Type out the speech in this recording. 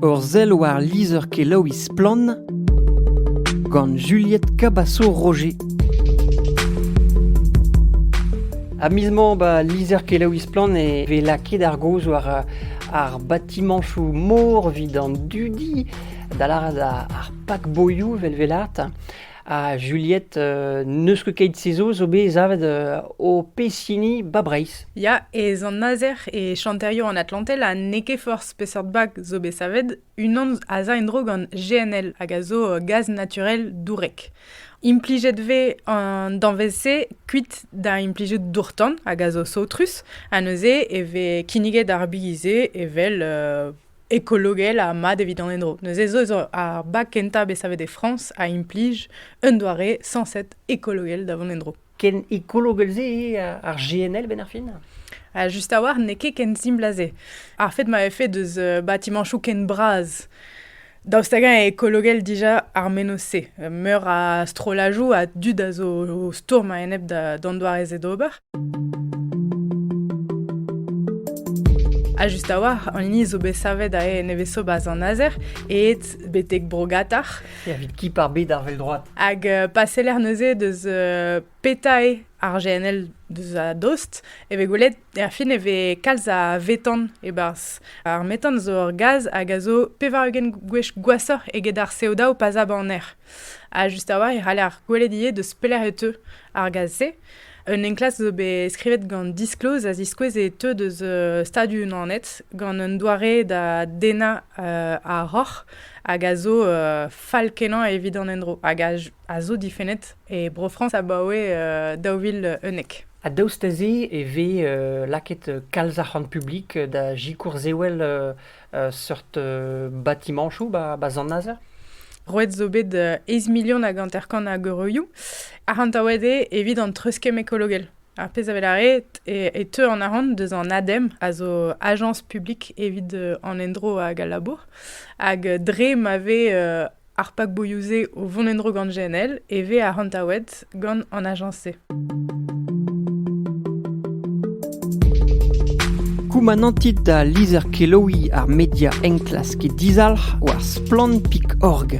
Ur sell war lizher-kelaouiñ Splann! gant Juliette Cabasso-Roger. Ha miz 'mañ, ba, lizher-kelaouiñ Splann! e vez lakaet ar gaoz war ar batimanchoù mor evit an dudi, da lâret ar pak-boioù 'vel 'velaat. Ha Juliette, euh, n'eus ket keit se zo, zo bet savet euh, o pezh ba Breizh. Ya, e Zant-Nazer e chanterioù an Atlantel ha n'eo ket forzh peseurt bag zo bet savet, unan a za en-dro gant GNL hag a zo euh, gaz naturel dourek. Implijet vez an danvez-se kuit da implijout dourtan hag a zo saotrus, ha neuze e vez kinniget ar bize evel ekologel ha mat evit an endro. Neuze zo zo ar bag kentañ bet savet e Frañs a implij un doare sañset ekologel da vont en-dro. Ken ekologel-se eo ar GNL benn ar fin ha Just a-walc'h n'eo ket ken simpl a se. Ar fait ma fait deus euh, batimanchoù ken bras Daoust hag-eñ eo ekologel dija ar menoz-se? Meur a strollajoù a dud a zo o stourm a-enep d'an doare-se d'ober. Ha just a-walc'h, an hini zo bet savet aze nevez-sobas an azer, eet betek Brogatar. Evit ki par bet ar vel droat. Hag euh, pa seller neuze deus euh, petae ar GNL deus a dost, e vez gwelet, er fin e vez kalz a vetan e-barzh. Ar metan zo ur gaz hag a zo pevar-ugent gwech gwashoc'h eget ar CO2 pa zab an aer. Ha just a-walc'h e c'haller gwelet ivez deus pelec'h e teu ar gaz-se. Un enklask zo bet skrivet gant Disclose a ziskouez e teu deus euh, Stadoù-Unanet gant un doare da dennañ euh, ar roc'h hag a zo euh, fall-kenañ evit an endro hag a, j- a zo difennet e Bro-Frañs abaoe euh, daou vil unnek. Ha daoust da se e vez euh, lakaet kalz arc'hant publik da sikour sewell euh, seurt batimanchoù ba, ba Zant-Nazer. Roet zo bet eiz milion hag hanter-kant a geureioù. Arc'hantaouet eo evit an treuskemm ekologel. Ar pezh a lâret e, e teu an arc'hant deus an ADEM, a zo Agence publique evit an endro hag al labour. Hag dre ma vez Ar pakboioù-se o vont en-dro gant GNL e vez arc'hantaouet gant an ajañs-se. Koumanantit da lizher-kelaouiñ ar media enklask dizalc'h war Splann.org.